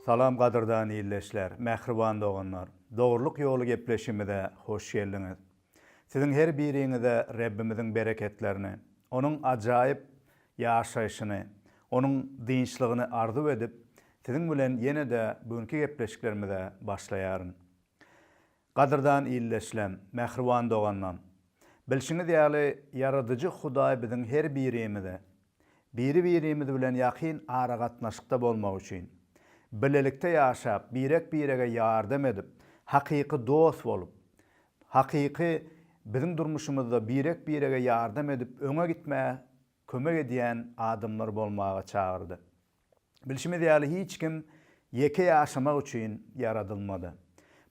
Salam gadyrdan ildeşler, mähriban doganlar! Dogrulyk ýoly gepleşigimize hoş geldiňiz. Siziň her biriňize Rebbimiziň bereketlerini, Onuň ajaýyp ýaşaýşyny, Onuň dynçlygyny arzuw edip, siziň bilen ýene-de bu günki gepleşiklerimize başlaýaryn. Gadyrdan ildeşlem, mähriban doganlam! Bilşiňiz ýaly, Ýaradyjy Hudaý biziň her birimize, biri-birimiz bilen ýakyn aragatnaşykda bolmak üçin, bilelikde ýaşap, birek-birege ýardam edip, hakyky dost bolup, hakyky biziň durmuşymyzda birek-birege ýardam edip öňe gitmäge kömek edýän adamlar bolmaga çagyrdy. Bilşimiz ýaly, hiç kim ýeke ýaşamak üçin ýaradylmady.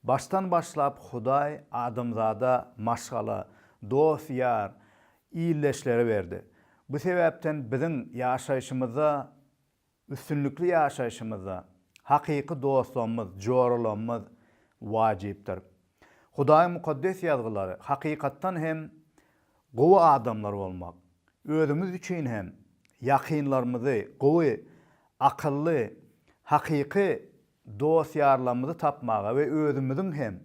Başdan başlap Hudaý adamzada maşgala, dost-ýar, ildeşleri berdi. Bu sebäpden biziň ýaşaýşymyzda Üstünlikli ýaşaýşymyzda hakyky dostlarymyz, joralarymyz wajypdyr. Hudaýyň Mukaddes Ýazgylary hakykatdan hem gowy adamlar bolmak, özümiz üçin hem ýakynlarymyzy, gowy, akylly, hakyky dost-ýarlarymyzy tapmaga we özümiziň hem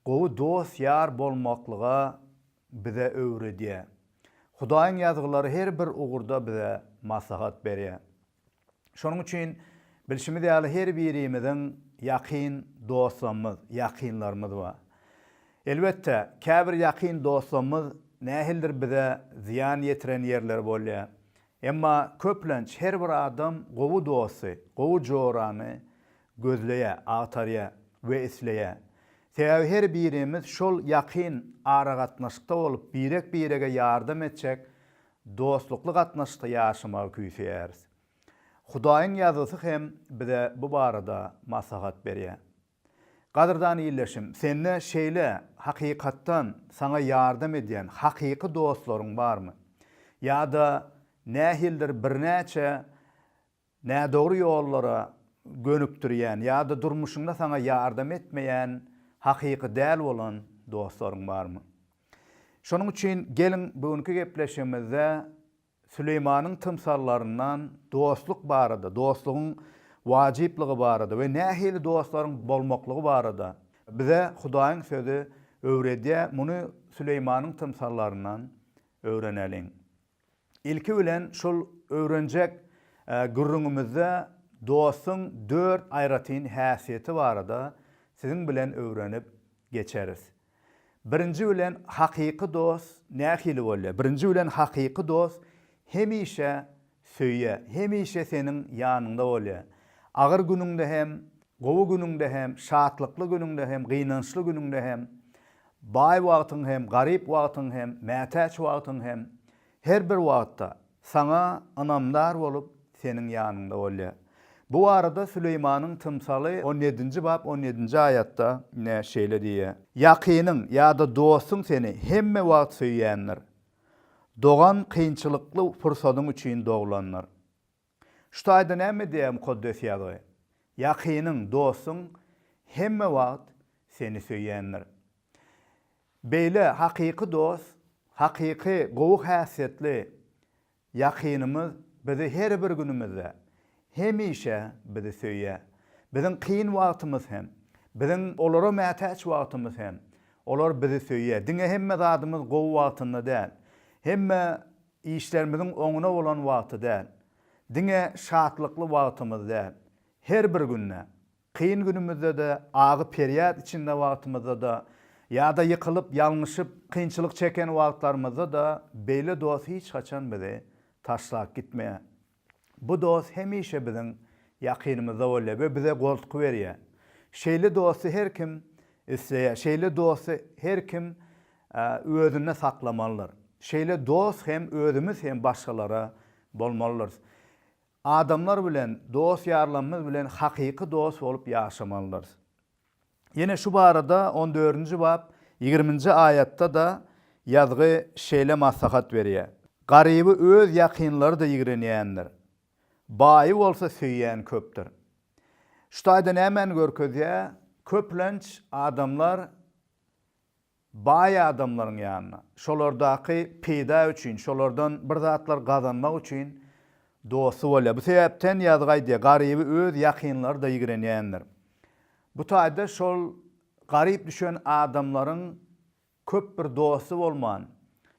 gowy dost-ýar bolmaklyga bize öwredýär. Hudaýyň Ýazgylary her bir ugurda bize maslahat berýär. Şonuň üçin, bilşimiz ýaly, her birimiziň ýakyn dostlarymyz, ýakynlarymyz bar. Elbetde, käbir ýakyn dostlarymyz nähilidir bize zyýan ýetiren ýerleri bolýar. Emma köplenç her bir adam gowy dosty, gowy jorany Gözleýä, agtarýa we isleýä. Sebäbi her birimiz şol ýakyn aragatnaşykda bolup birek-birege ýardam etjek dostlukly gatnaşykda ýaşamagy küýseýäris. Hudaýyň ýazgysy hem bize bu barada maslahat berýä. Gadyrdan ildeşim, sende şeýle hakykatdan saňa ýardam edýän hakyky dostlaryň barmy? Ýa-da nähilidir birnäçe Nädogry ýollara gönükdirýän ýa-da durmuşyňda saňa ýardam etmeýän hakyky däl bolan dostlaryň barmy? Şonuň üçin geliň bu günki gepleşigimizde Süleýmanyň tymsallaryndan dostluk barada, dostlugyň wajyplygy barada we nähili dostlaryň bolmaklygy barada bize Hudaýyň sözi öwredýär, muny Süleýmanyň tymsallaryndan öwreneliň. Ilki bilen şul öwrenjek gürrüňimizde dostuň dört aýratyn häsiýeti barada siziň bilen öwrenip geçeris. Birinji bilen hakyky dost nähili bolýar? Birinji bilen hakyky dost hemişe söýýär, hemişe seniň ýanyňda bolýar. Agyr günüňde hem, gowy günüňde hem, şatlykly günüňde hem, gynançly günüňde hem Baý wagtyň hem, garyp wagtyň hem, mätäç wagtyň hem, her bir wagtda Saňa ynamdar bolup, Seniň ýanyňda bolýar. Bu barada Süleýmanyň tymsaly on ýedinji bap on ýedinji aýatda ine, şeýle diýýär, Ýakynyň ýa-da dostuň seni hemme wagt söýýändir. Dogan kynçylykly pursadyň üçin doglandyr. Şu taýda näme edýär Mukaddes Ýazgy? Ýakynyň, dostuň hemme wagt seni söýýändir. Beýle hakyky dost, hakyky gowy häsiýetli ýakynymyz bizi her bir günümizde, hemişe bizi söýýär. Biziň kyn wagtymyz hem, biziň olara mätäç wagtymyz hem, olar bizi söýýär. Diňe hemme zadymyz gowy wagtynda däl. Hemme Işlerimiziň oňuna bolan wagty däl, diňe şatlykly wagtymyz däl, her bir günde, kyn günümizde-de, agy-perýat içinde wagtymyzda-da, ýa-da ýykylyp, ýalňyşyp, kynçylyk çeken wagtlarymyzda-da beýle dost hiç haçan bizi taşlap gitmeýär. Bu dost hemişe biziň ýakynymyzda bolýar we bize goltgy berýär. Şeýle dosty her kim isleýär. Şeýle dosty her kim özünde saklamalydyr. Şeýle dost hem özümiz hem başgalara bolmalydyrys. Adamlar bilen, dost-ýarlarymyz bilen hakyky dost bolup ýaşamalydyrys. Ýene şu barada on dördünji bap ýigriminji aýatda-da ýazgy şeýle maslahat berýär, Garyby öz ýakynlary-da ýigrenýändir. Baýy bolsa söýýän köpdür. Şu taýda nämäni görkezýär? Köplenç adamlar Baý adamlaryň ýanyna, şolardaky peýda üçin, şolardan bir zatlar gazanmak üçin dosty bolýar. Bu sebäpden ýazgy aýdýar, Garyby öz ýakynlary-da ýigrenýändir. Bu taýda şol garyp düşen adamlaryň köp bir dosty bolman,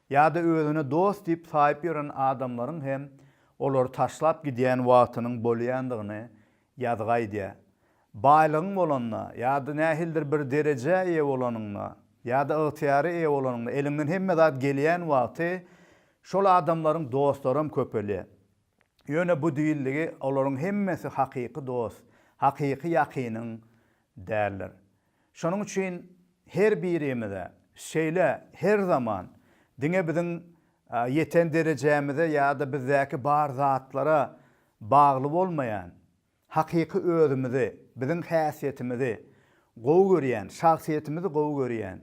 ýa-da özüne dost diýip saýyp ýören adamlaryň hem olary taşlap gidýän wagtynyň bolýandygyny Ýazgy aýdýar. Baýlygyň bolanda ýa-da nähilidir bir derejä eýe bolanyňda ýa-da ygtyýara eýe bolanyňda, eliňden hemme zat gelýän wagty şol adamlaryň dostlaram köpelýär. Ýöne bu diýildigi olaryň hemmesi hakyky dost, hakyky ýakynyň däldir. Şonuň üçin her birimize şeýle her zaman diňe biziň ýeten derejämize ýa-da bizdäki bar zatlara bagly bolmaýan, hakyky özümizi, biziň häsiýetimizi gowy görýän, şahsyýetimizi gowy görýän,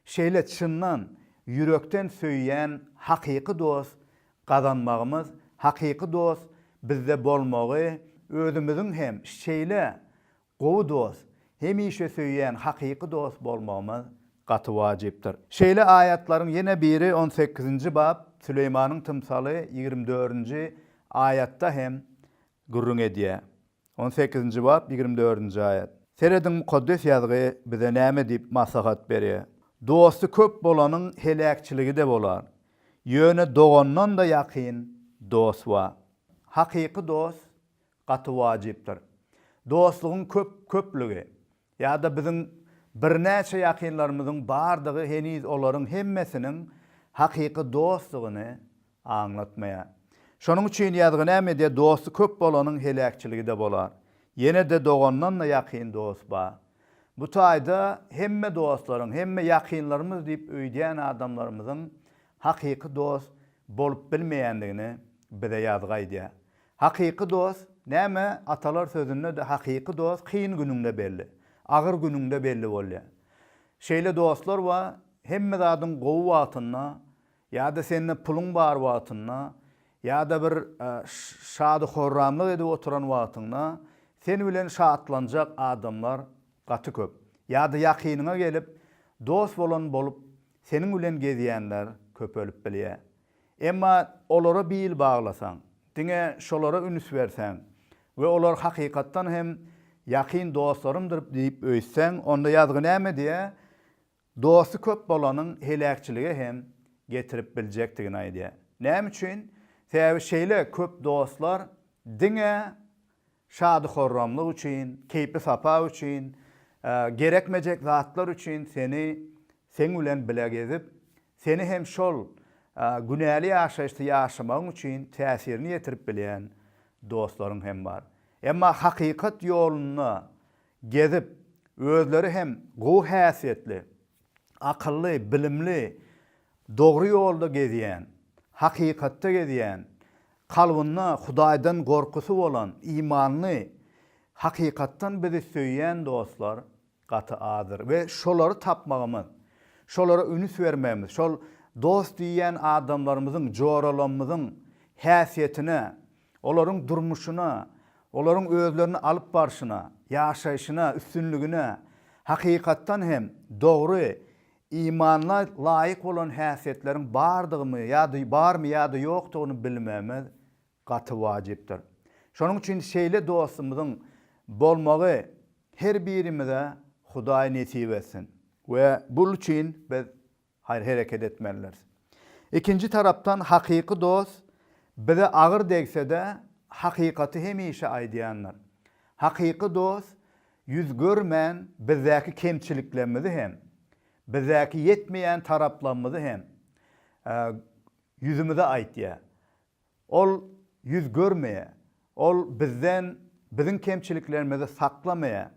şeýle çyndan, ýürekden söýýän hakyky dost gazanmagymyz, hakyky dost bizde bolmagy özümiziň hem şeýle Gowy dost, hemişe söýýän hakyky dost bolmagymyz gaty wajypdyr. Şeýle aýatlaryň ýene biri on sekizinji bap, Süleýmanyň tymsaly ýigrimi dördünji aýatda hem gürrüň edýär. On sekizinji bap, ýigrimi dördünji aýat. Serediň Mukaddes Ýazgy bize näme diýip maslahat berýär. Dosty köp bolanyň heläkçiligi-de bolar. Ýöne dogandan-da ýakyn dost bar. Hakyky dost gaty wajypdyr. Dostlugyň köp, köplügi ýa-da biziň birnäçe ýakynlarymyzyň bardygy heniz olaryň hemmesiniň hakyky dostdugyny aňlatmaýar. Şonuň üçin ýazgy nämede dosty köp bolanyň heläkçiligi-de bolar. Ýene-de dogandan-da ýakyn dost bar. Bu taýda hemme dostlaryň, hemme ýakynlarymyz diýip öýdýän adamlarymyzyň hakyky dost bolup bilmeýändigini bize ýazgy aýdýar. Hakyky dost näme atalar sözünde-de hakyky dost kyn günüňde belli, agyr günüňde belli bolýar. Şeýle dostlar bar, hemme zadyň gowy wagtynda ýa-da sende puluň bar wagtynda ýa-da bir şady-horramlyk edip oturan wagtyňda sen bilen şatlanjak adamlar gaty köp. Ýa-da ýakynyňa gelip dost bolan bolup seniň bilen gezýänler köpelip bilýär. Emma olara bil baglasaň, diňe şolara üns berseň we olar hakykatdan hem ýakyn dostlarymdyr diýip öýtseň, onda ýazgy näme diýýär? Dosty köp bolanyň heläkçilige hem getirip biljekdigini aýdýar. Näme üçin? Sebäbi şeýle köp dostlar diňe Şady-horramlyk üçin, keýpi-sapa üçin, gerekmejek zatlar üçin seni seň bilen bile gezip, seni hem şol günäli ýaşaýyşda ýaşamagyň üçin täsirini ýetirip bilýän dostlaryň hem bar. Emma hakykat ýolunda gezip, özleri hem gowy häsiýetli, akylly, bilimli, dogry ýolda gezýän, hakykatda gezýän, Kalbynda Hudaýdan gorkusy bolan, imanly, hakykatdan bizi söýýän dostlar gaty azdyr we şolary tapmagymyz, şolara ünüs bermegimiz, şol dost diýýän adamlarymyzyň, joralamyzyň häsiýetine, olaryň durmuşyna, olaryň özlerini alyp barşyna, ýaşaýşyna, üstünligine hakykatdan hem dogry Imana laýyk bolan häsiýetleriň bardygymy ýa-da barmy ýa-da ýokdugyny bilmegimiz gaty wajypdyr. Şonuň üçin şeýle dostumyzyň bolmagy her birimize Hudaý nesip etsin we bul üçin biz haýr-hereket etmelidiris. Ikinji tarapdan hakyky dost bize agyr degsede hakykaty hemişe aýdýandyr. Hakyky dost Ýüz görmän bizdäki kemçiliklerimizi hem, bizdäki ýetmeýän taraplarymyzy hem ýüzümize aýtýar. Ol ýüz görmeýär. Ol bizden biziň kemçiliklerimizi saklamaýar.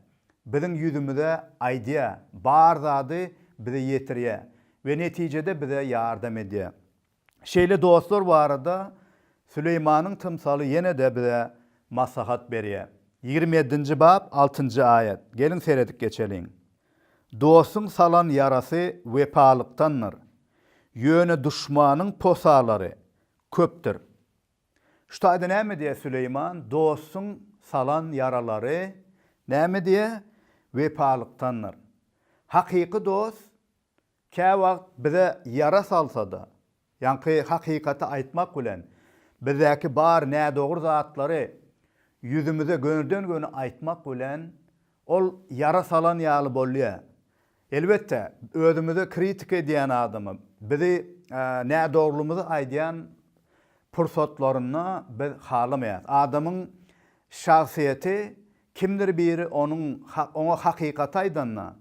Biziň ýüzümize aýdýar, bar zady bize ýetirýär we netijede bize ýardam edýär. Şeýle dostlar barada Süleýmanyň tymsaly ýene-de bize maslahat berýär. Ýigrimi ýedinji bap, altynjy aýat. Geliň seredip geçeliň. Dostuň salan ýarasy wepalykdandyr. Ýöne duşmanyň posalary köpdür. Şu taýda näme diýýär Süleýman? Dostuň salan ýaralary näme diýýär? Wepalykdandyr. Hakyky dost Käwagt bize ýara salsa-da, ýaňky hakykaty aýtmak bilen, bizdäki bar nädogry zatlary ýüzümize gönüden-göni aýtmak bilen, ol ýara salan ýaly bolýar. Elbetde, özümize kritika edýän adama, bizi nädogrylymyzy aýdýan pursatlarynda biz halamaýarys. Adamyň şahsyýeti Kimdir biri onuň oňa hakykaty aýdanda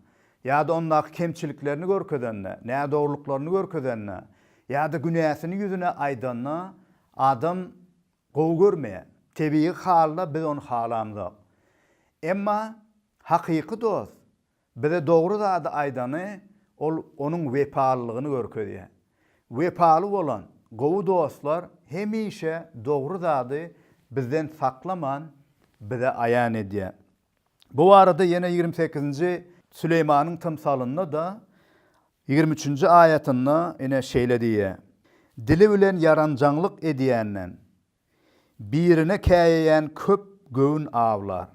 ýa-da ondaky kemçiliklerini görkezende, nädogrulyklaryny görkezende ýa-da günäsini ýüzüne aýdanda adam gowy görmeýär. Tebigy halda biz ony halamzok. Emma hakyky dost Bize dogry zady aýdany ol onuň wepalylygyny görkezýär. Wepaly bolan gowy dostlar hemişe dogry zady bizden saklaman bize aýan edýär. Bu barada ýene ýigrimi sekizinji Süleýmanyň tymsalynda-da ýigrimi üçünji aýatynda ine şeýle diýýär, Dili bilen ýaranjaňlyk edýänden, birine käýeýän köp göwün awlar.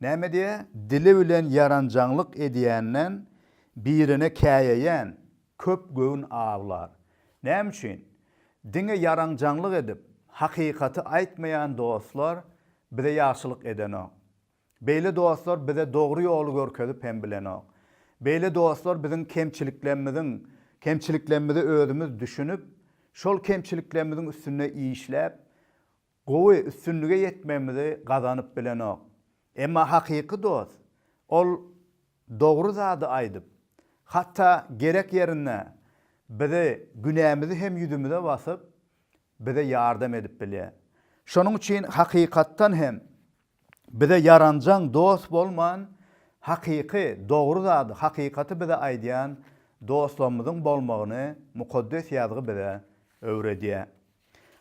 Näme diýä, dili bilen ýaranjaňlyk edýänden birine käýeýän, köp göwün awlar. Näme üçin? Diňe ýaranjaňlyk edip, hakykaty aýtmaýan dostlar bize ýagşylyk edenok. Beýle dostlar bize dogry ýoly görkezip hem bilenok. Beýle dostlar biziň kemçiliklermiziň kemçiliklerimizi özümiz düşünip, şol kemçiliklerimiziň üstünde işläp, Gowy, üstünlige ýetmegimizi gazanyp bilenok. Emma hakyky dost, ol dogry zady aýdyp, hatda gerek ýerinde bizi günämizi hem ýüzümize basyp, bize ýardam edip bilýär. Şonuň üçin hakykatdan hem Bize ýaranjaň dost bolman, hakyky, dogry zady, hakykaty bize aýdýan dostlarymyzyň bolmagyny Mukaddes Ýazgy bize öwredýär.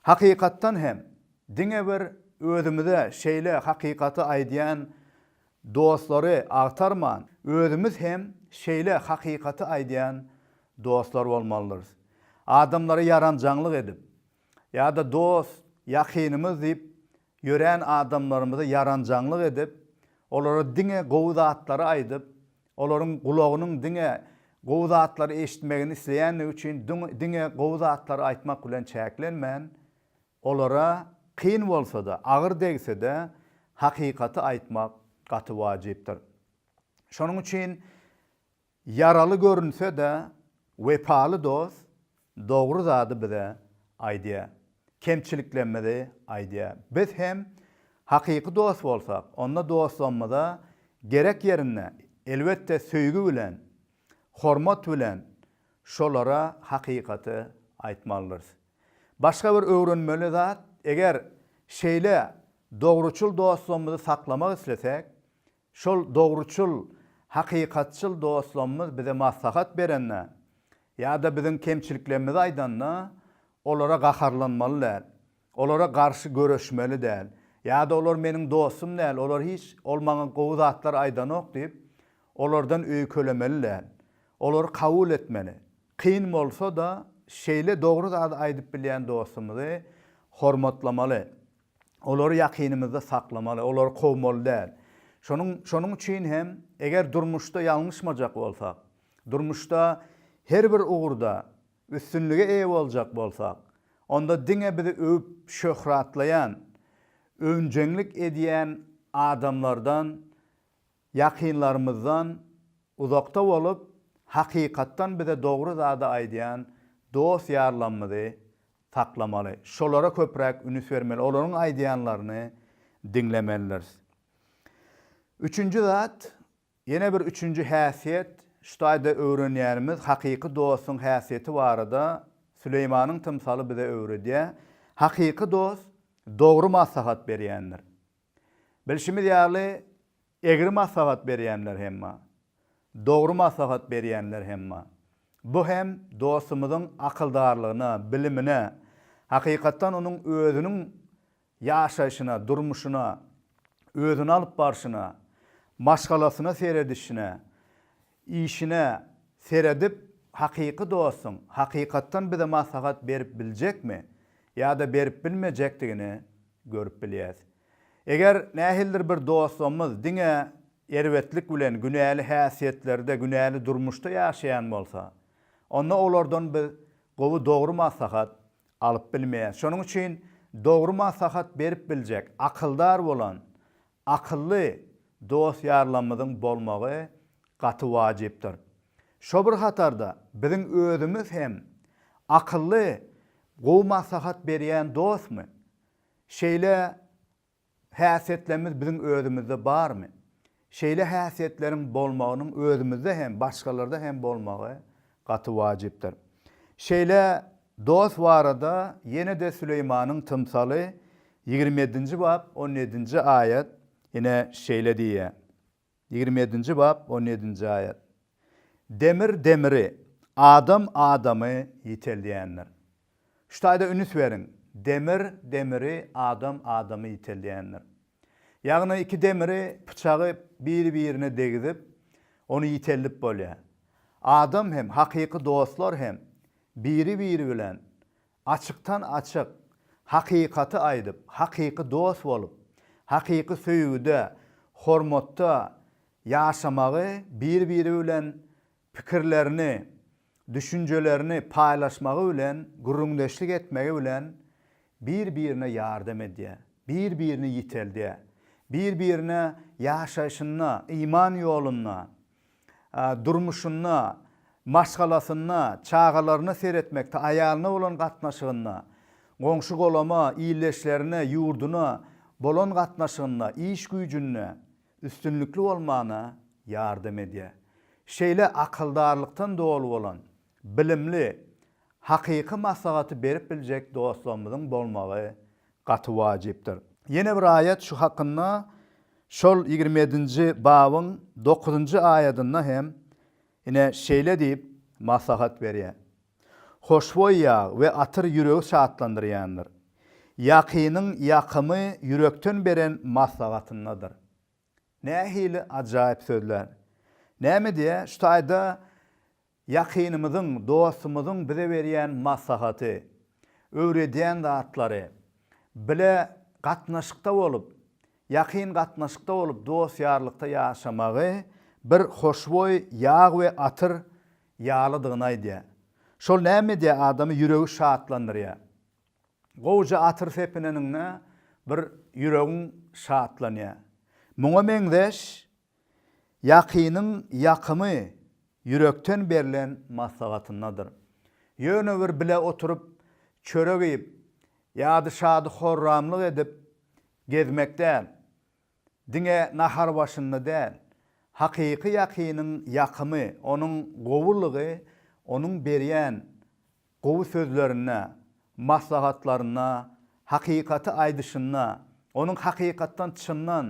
Hakykatdan hem, diňe bir özümize şeýle hakykaty aýdýan dostlary agtarman, özümiz hem şeýle hakykaty aýdýan dostlar bolmalydyrys. Adamlara ýaranjaňlyk edip, ýa-da dost, ýakynymyz diýip Ýörän adamlarymyza ýaranjaňlyk edip, olara diňe gowy zatlary aýdyp, olaryň gulagynyň diňe gowy zatlary eşitmegini isleýändigi üçin diňe gowy zatlary aýtmak bilen çäklenmän, olara kyn bolsa-da, agyr degse-de, hakykaty aýtmak gaty wajypdyr. Şonuň üçin. Ýaraly görünse-de, wepaly dost dogry zady bize aýdýar, kemçiliklerimizi aýdýar. Biz hem hakyky dost bolsak, onda dostlugymyza gerek ýerinde, elbetde, söýgi bilen, hormat bilen şolara hakykaty aýtmalydyrys. Başga bir öwrenmeli zat, eger şeýle dogruçyl dostlugymyzy saklamak islesek, Şol dogruçyl, hakykatçyl dostlamymyz bize maslahat berende ýa-da biziň kemçiliklerimizi aýdanda, olara gaharlanmaly däl, olara garşy göreşmeli däl ýa-da olar meniň dostum däl, olar hiç, ol maňa gowy zatlar aýdanok diýip, olardan öýkelemeli däl. Olary kabul etmeli. Kyn bolsa-da, şeýle dogry zady aýdyp bilýän dostumyzy hormatlamaly. olary ýakynymyzda saklamaly, olary kowmaly däl. Şonuň, şonuň üçin hem, eger durmuşda ýalňyşmajak bolsak, durmuşda her bir ugurda üstünlige eýe boljak bolsak, onda diňe bizi öwüp şöhratlaýan, öwünjeňlik edýän adamlardan Ýakynlarymyzdan uzakda bolup, hakykatdan bize dogry zady aýdýan dost-ýarlamyzy saklamaly. Şolara köpräk ünüs bermeli, olaryň aýdýanlaryny diňlemelidiris. Üçünji zat, ýene bir üçünji häsiýet, şu taýda öwrenýänimiz hakyky dostuň häsiýeti barada Süleýmanyň tymsaly bize öwredýär, hakyky dost dogry maslahat berýändir. Bilşimiz ýaly, egri maslahat berýänler hem bar, dogry maslahat berýänler hem bar. Bu hem dostumyzyň akyldarlygyna, bilimine, hakykatdan onuň özüniň ýaşaýşyna, durmuşyna, özüni alyp barşyna, maşgalasyna seredişine, Işine seredip hakyky dostuň hakykatdan bize maslahat berip biljekmi ýa-da berip bilmejekdigini görüp bilýäs. Eger nähilidir bir dostumyz diňe erbetlik bilen günäli häsiýetlerde günäli durmuşda ýaşaýan bolsa onda olardan biz gowy dogry maslahat alyp bilmeýäs. Şonuň üçin dogry maslahat berip biljek akyldar bolan Akylly dost-ýarlarymyzyň bolmagy gaty wajypdyr. Şo bir hatarda biziň özümiz hem akylly, gowy maslahat berýän dostmy? Şeýle häsiýetlerimiz biziň özümizde barmy? Şeýle häsiýetleriň bolmagynyň özümizde hem, başgalarda hem bolmagy Gaty wajypdyr. Şeýle dost barada ýene-de Süleýmanyň tymsaly ýigrimi ýedinji bap on ýedinji aýat ine şeýle diýýär. Ýigrimi ýedinji bap on ýedinji aýat. Demir demiri, adam adamy ýiteldýändir. Şu taýda ünüs beriň, demir demiri, adam adamy ýiteldýändir. Ýagny iki demiri, pyçagy biri-birine degizip, ony ýiteldip bolýar. Adam hem, hakyky dostlar hem biri-biri bilen açykdan-açyk hakykaty aýdyp, hakyky dost bolup, hakyky söýgüde, hormatda ýaşamagy, bir-biri bilen pikirlerini, düşünjelerini paýlaşmagy bilen, gürrüňdeşlik etmegi bilen bir-birine ýardam edýär, bir-birini ýiteldýär, bir-birine ýaşaýşynda, iman ýolunda, durmuşynda, maşgalasynda, çagalaryna seretmekde, aýalyna bolan gatnaşygynda, goňşy-golama, ildeşlerine, ýurduna bolan gatnaşygynda, iş-güýjünde, üstünlikli bolmana ýardam edýär. Şeýle akyldarlykdan doly bolan, bilimli, hakyky maslahaty berip biljek dostlarymyzyň bolmagy gaty wajypdyr. Ýene bir aýat şu hakynda şol ýigrimi ýedinji babyň dokuzynjy aýadynda hem ine şeýle diýip maslahat berýär. Hoşboý ýag we atyr ýüregi şatlandyrýandyr. Ýakynyň ýakymy ýürekden beren maslahatyndadyr. Nähili ajaýyp sözlär! Näme diýýär şu taýda ýakynymyzyň, dostumyzyň bize berýän maslahaty, öwredýän zatlary? Bile gatnaşykda bolup, ýakyn gatnaşykda bolup, dost-ýarlykda ýaşamagy bir hoşboý ýag we atyr ýalydygyny aýdýar. Şol näme edýär, adamy ýüregi şatlandyrýar. Gowja atyr sepineniňde bir ýüregiň şatlanýar. Muňa meňzeş ýakynyň ýakymy ýürekden berlen maslahatyndadyr. Ýöne bir bile oturyp, çörek iýip, ýady-şady horramlyk edip gezmek däl, diňe nahar başynda däl, hakyky ýakynyň ýakymy, onuň gowulygy onuň berýän gowy sözlerinde, maslahatlarynda, hakykaty aýdyşynda, onuň hakykatdan çyndan,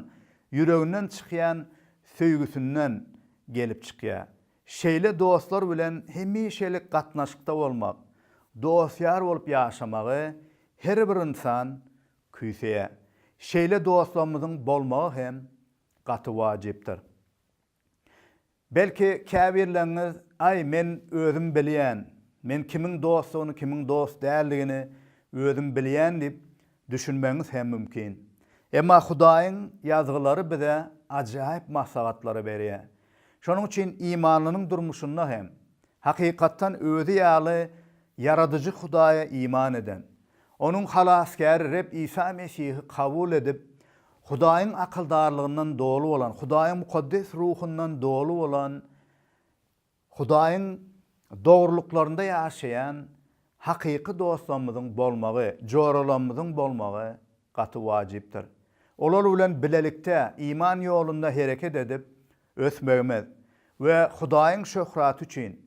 ýüreginden çykýan söýgüsinden gelip çykýar. Şeýle dostlar bilen hemişelik gatnaşykda bolmak, dost-ýar bolup ýaşamagy her bir ynsan Küýse, şeýle dostlarymyzyň bolmagy hem gaty wajypdyr. Belki, käbirleriňiz, Aý, men özüm bilýän, men kimiň dostdugyny, kimiň dost däldigini özüm bilýän diýip düşünmegiňiz hem mümkin. Emma Hudaýyň Ýazgylary bize ajaýyp maslahatlary berýär. Şonuň üçin imanlynyň durmuşynda hem, hakykatdan özi ýaly Ýaradyjy Hudaýa iman eden, Onuň Halasgäri Reb Isa Mesihi kabul edip, Hudaýyň akyldarlygyndan doly bolan, Hudaýyň mukaddes ruhundan doly bolan, Hudaýyň dogrulyklarynda ýaşaýan hakyky dostlarymyzyň bolmagy, joralarymyzyň bolmagy gaty wajypdyr. Olar bilen bilelikde iman ýolunda hereket edip ösmegimiz we Hudaýyň şöhraty üçin,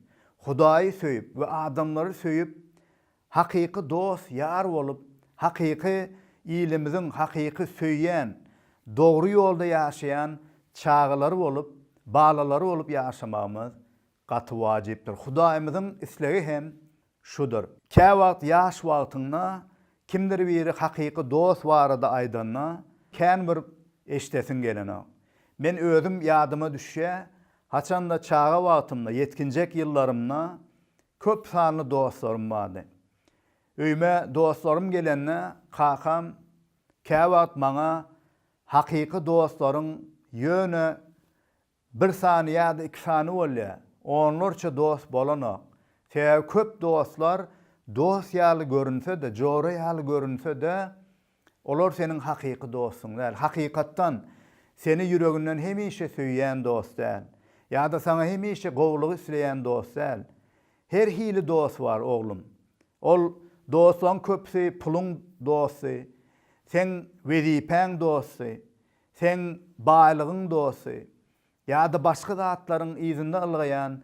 Hudaýy söýüp we adamlary söýüp Hakyky dost ýar bolup, hakyky ilimiziň hakyky söýýän, dogry ýolda ýaşaýan çagalary bolup, balalary bolup ýaşamagymyz gaty wajypdyr. Hudaýymyzyň islegi hem şudur. Käwagt ýaş wagtyňda kimdir biri hakyky dost barada aýdanda, kän bir eşidesiň gelenok. Men özüm ýadyma düşýä, haçanda çaga wagtymda, ýetginjek ýyllarymda Köp sanly dostlarym bardy. Öýüme dostlarym gelende kakam käwagt maňa hakyky dostlaryň ýöne bir sany ýa-da iki sany bolýar, onlarça dost bolanok. Sebäbi köp dostlar dost ýaly görünse-de, jora ýaly görünse-de, Olar seniň hakyky dostuň däl. Hakykatdan, seni ýüreginden hemişe söýýän dost däl. Ýa-da saňa hemişe gowulygy isleýän dost däl. Her hili dost bar, oglum. Ol dostlaryň köpüsi puluň dosty, seň wezipäň dosty, seň baýlygyň dosty ýa-da başga zatlaryň yzynda ylgaýan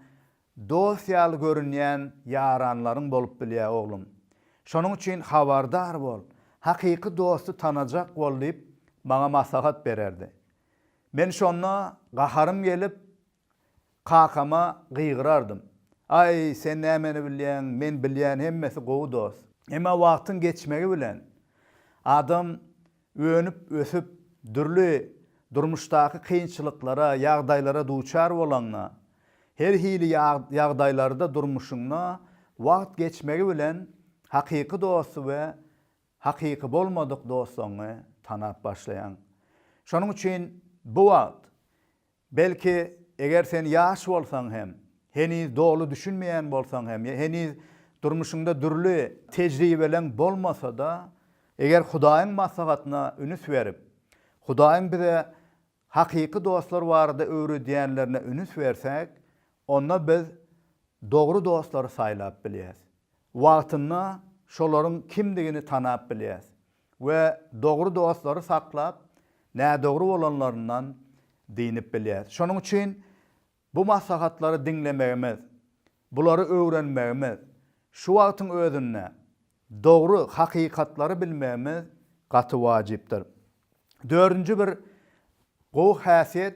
Dost ýaly görünýän ýaranlaryň bolup bilýär oglum. Şonuň üçin habardar bol, hakyky dosty tanajak bol diýip, maňa maslahat bererdi. Men şonda gaharym gelip, kakama gygyrardym. Aý, sen nämeni bilýäň, men bilýän hemmesi gowy dost. Emma wagtyň geçmegi bilen, adam Önüp-ösüp, dürli durmuşdaky kynçylyklara, ýagdaýlara duçar bolaňda, her hili ýagdaýlarda durmuşyňda wagt geçmegi bilen hakyky dosty we hakyky bolmadyk doslaňy tanap başlaýaň. Şonuň üçin bu wagt Belki, eger sen ýaş bolsaň hem, heniz doly düşünmeýän bolsaň hem, ýa heniz durmuşyňda dürli tejribeleň bolmasa-da, eger Hudaýyň maslahatyna ünüs berip, Hudaýyň bize hakyky dostlar barada öwredýänlerine ünüs bersäk, onda biz dogry dostlary saýlap bilýäris. Wagtynda şolaryň kimdigini tanap bilýäris. we dogry dostlary saklap, nädogry bolanlaryndan dynyp bilýäris. Şonuň üçin bu maslahatlary diňlemegimiz, bulary öwrenmegimiz, şu wagtyň özünde dogry hakykatlary bilmegimiz gaty wajypdyr. Dördünji bir gowy häsiýet,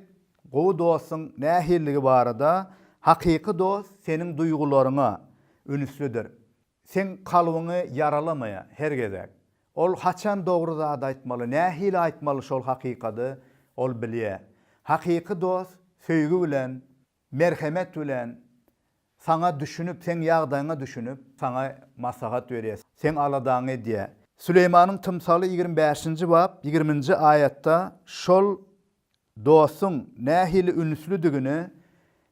gowy dostuň nähilligi barada, Hakyky dost seniň duýgularyňa ünslidir. Seň kalbyňy ýaralamaýa her gezek. Ol haçan dogry zady aýtmaly, nähili aýtmaly şol hakykady ol bilýä. Hakyky dost söýgi bilen, merhemet bilen saňa düşünip, seň ýagdaýyňa düşünip, saňa maslahat berýä, seň aladaňy edýä. Süleýmanyň tymsaly ýigrimi bäşinji bap ýigrimi nji aýatda şol Dostuň nähili ünslidigini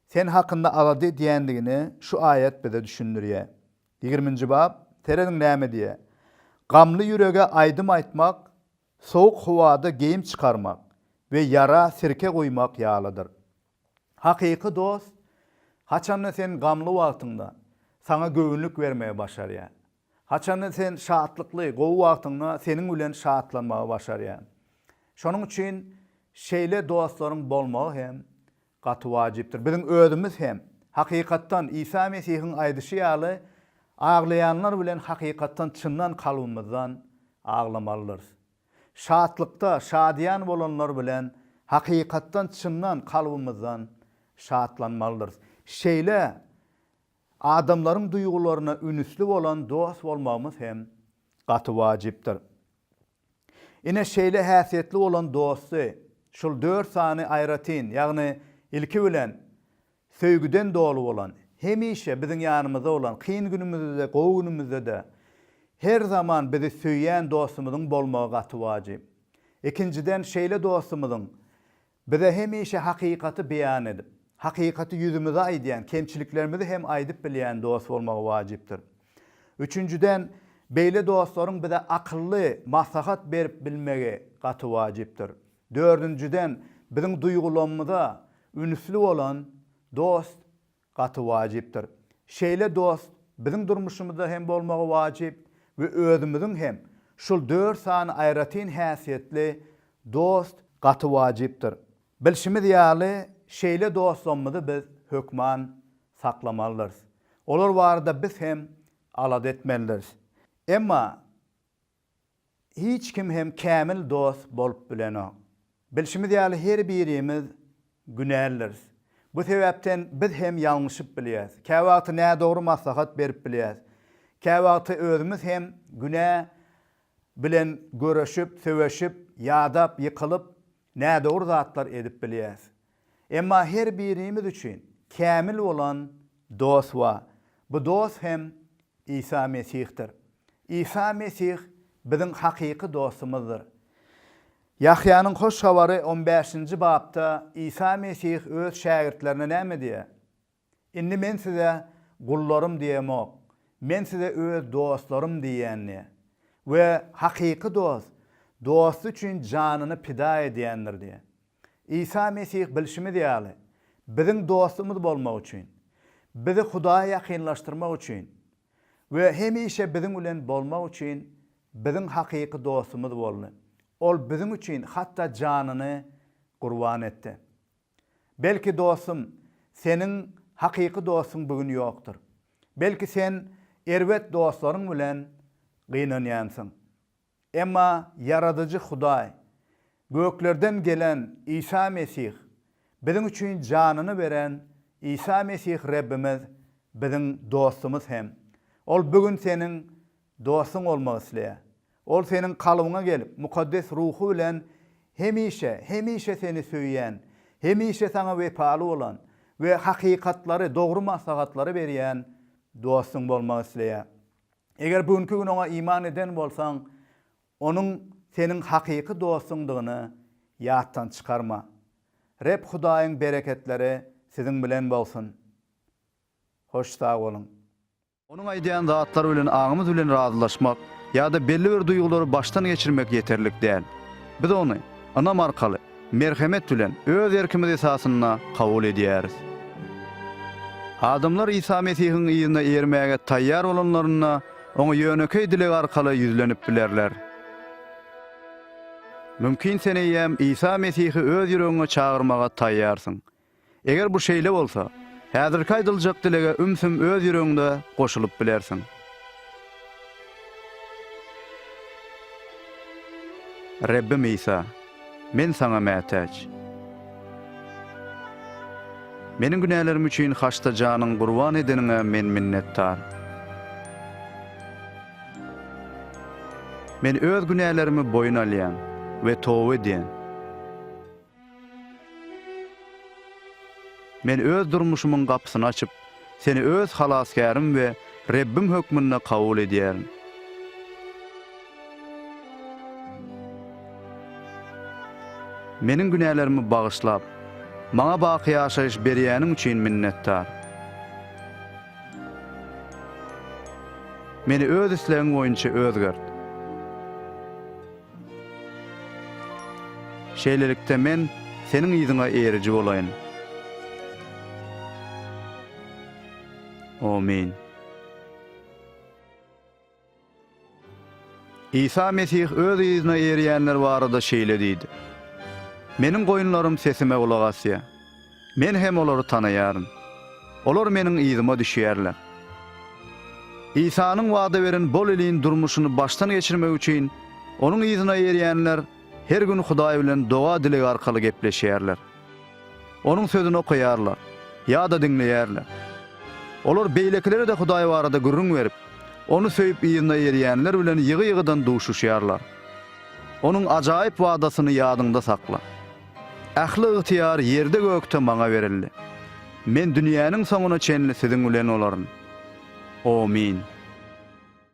sen hakynda alada edýändigini şu aýat bize düşündirýär. Ýigriminji bap, serediň näme diýýär. Gamly ýürege aýdym aýtmak sowuk howada geýim çykarmak we ýara sirke guýmak ýalydyr. Hakyky dost haçanda sen gamly wagtyňda saňa göwünlik bermegi başarýar. Haçanda sen şatlykly, gowy wagtyňda seniň bilen şatlanmagy başarýan. Şonuň üçin şeýle dostlaryň bolmagy hem gaty wajypdyr. Biziň özümiz hem, hakykatdan, Isa Mesihiň aýdyşy ýaly, aglaýanlar bilen hakykatdan çyndan kalbymyzdan aglamalydyrys. Şatlykda, şadyýan bolanlar bilen hakykatdan çyndan kalbymyzdan şatlanmalydyrys. Şeýle Adamlaryň duýgularyna ünüsli bolan dost bolmagymyz hem gaty wajypdyr. Ine, şeýle häsiýetli bolan dosty şul dört sany aýratyn, ýagny ilki bilen, söýgüden doly bolan, hemişe biziň ýanymyzda bolan, kyn günümizde-de, gowy günümizde-de her zaman bizi söýýän dostumyzyň bolmagy gaty wajyp. Ikinjiden, şeýle dostumyzyň Bize hemişe hakykaty beýan edip, hakykaty ýüzümize aýdýan, kemçiliklerimizi hem aýdyp bilýän dost bolmagy wajypdyr. Üçünjiden, beýle dostlaryň bize akylly maslahat berip bilmegi gaty wajypdyr. Dördünjiden, biziň duýgulamyza ünüsli bolan dost Gaty wajypdyr. Şeýle dost biziň durmuşymyzda hem bolmagy wajyp we özümiziň hem şul dört sany aýratyn häsiýetli dost gaty wajypdyr. Bilşimiz ýaly şeýle dostlarymyzy biz hökman saklamalydyrys. Olar barada biz hem alada etmelidiris. Emma Hiç kim hem kämil dost bolup bilenok. Bilşimiz ýaly her birimiz günälidiris. Bu sebäpden biz hem ýalňyşyp bilýäs. Käwagty nädogry maslahat berip bilýäs. Käwagty özümiz hem günä bilen göreşip, söweşip, ýadap, ýykylyp, nädogry zatlar edip bilýäs. Emma her birimiz üçin kämil bolan dost bar. Bu dost hem Isa Mesihdir. Isa Mesih biziň hakyky dostumyzdyr. Ýahýanyň Hoş Habary on bäşinji bapda Isa Mesih öz şägirtlerine näme diýýär? Indi men size gullarym diýemok, men size öz dostlarym diýýändir. We hakyky dost dosty üçin janyny pida edýändir diýýär. Isa Mesih bilşimiz ýaly, biziň dostumyz bolmak üçin, bizi Hudaýa ýakynlaşdyrmak üçin we hemişe biziň bilen bolmak üçin biziň hakyky dostumyz boldy. Ol biziň üçin hatda janyny gurban etdi. Belki dostum, seniň hakyky dostuň bu gün ýokdur. Belki sen erbet dostlaryň bilen gynanýansyň. Emma Ýaradyjy Hudaý, göklerden gelen Isa Mesih, biziň üçin janyny beren Isa Mesih Rebbimiz biziň dostumyz hem Ol bu gün seniň Dostuň bolmak isleýär. Ol seniň kalbyňa gelip, mukaddes ruhy bilen hemişe, hemişe seni söýýän, hemişe saňa wepaly bolan we hakykatlary, dogry maslahatlary berýän dostuň bolmak isleýär. Eger bu günki gün oňa iman eden bolsaň, onuň seniň hakyky dostuňdygyny ýatdan çykarma. Reb Hudaýyň bereketleri siziň bilen bolsun! Hoş sag boluň! Onuň aýdýan zatlary bilen aňymyz bilen razylaşmak ýa-da belli bir duýgulary başdan geçirmek ýeterlik däl. Biz ony ynam arkaly, merhemet bilen, öz erkimiz esasynda kabul edýäris. Adamlar Isa Mesihiň yzyna ermäge taýýar bolanlarynda, Oňa ýönekeý dileg arkaly ýüzlenip bilerler. Mümkin sen eýýäm Isa Mesihi öz ýüregiňe çagyrmaga taýýarsyň. Eger bu şeýle bolsa, häzirki aýdyljak dilege ümsüm öz ýüregiňde goşulyp bilersiň. Rebbim Isa, men Saňa mätäç. Meniň günälerim üçin haçda janyň gurban edeniňe men minnetdar. Men öz günälerimi boýun alýan we toba edýän. Men öz durmuşymyň gapysyny açyp, Seni öz Halasgärim we Rebbim hökmünde kabul edýärin. Meniň günälerimi bagyşlap, maňa baky ýaşaýyş berýäniň üçin minnetdar. Meni öz islegiň boýunça özgert. Şeýlelikde, men Seniň yzyňa eriji bolaýyn. Omin. Isa Mesih Öz yzyna erýänler barada şeýle diýdi, Meniň goýunlarym sesime gulak asýar. Men hem olary tanaýaryn. Olar Meniň yzyma düşýärler. Isanyň wada beren bol iliň durmuşyny başdan geçirmek üçin Onuň yzyna erýänler her gün Hudaý bilen doga-dileg arkaly gepleşýärler. Onuň Sözüni okaýarlar ýa-da diňleýärler. Olar beýlekilere-de Hudaý barada gürrüň berip, Ony söýüp yzyna erýänler bilen ýygy-ýygydan duşuşýarlar. Onuň ajaýyp wadasyny ýadyňda sakla. Ähli ygtyýar ýerde-gökde Maňa berildi. Men dünýäniň soňuna çenli siziň bilen bolaryn. Omyn.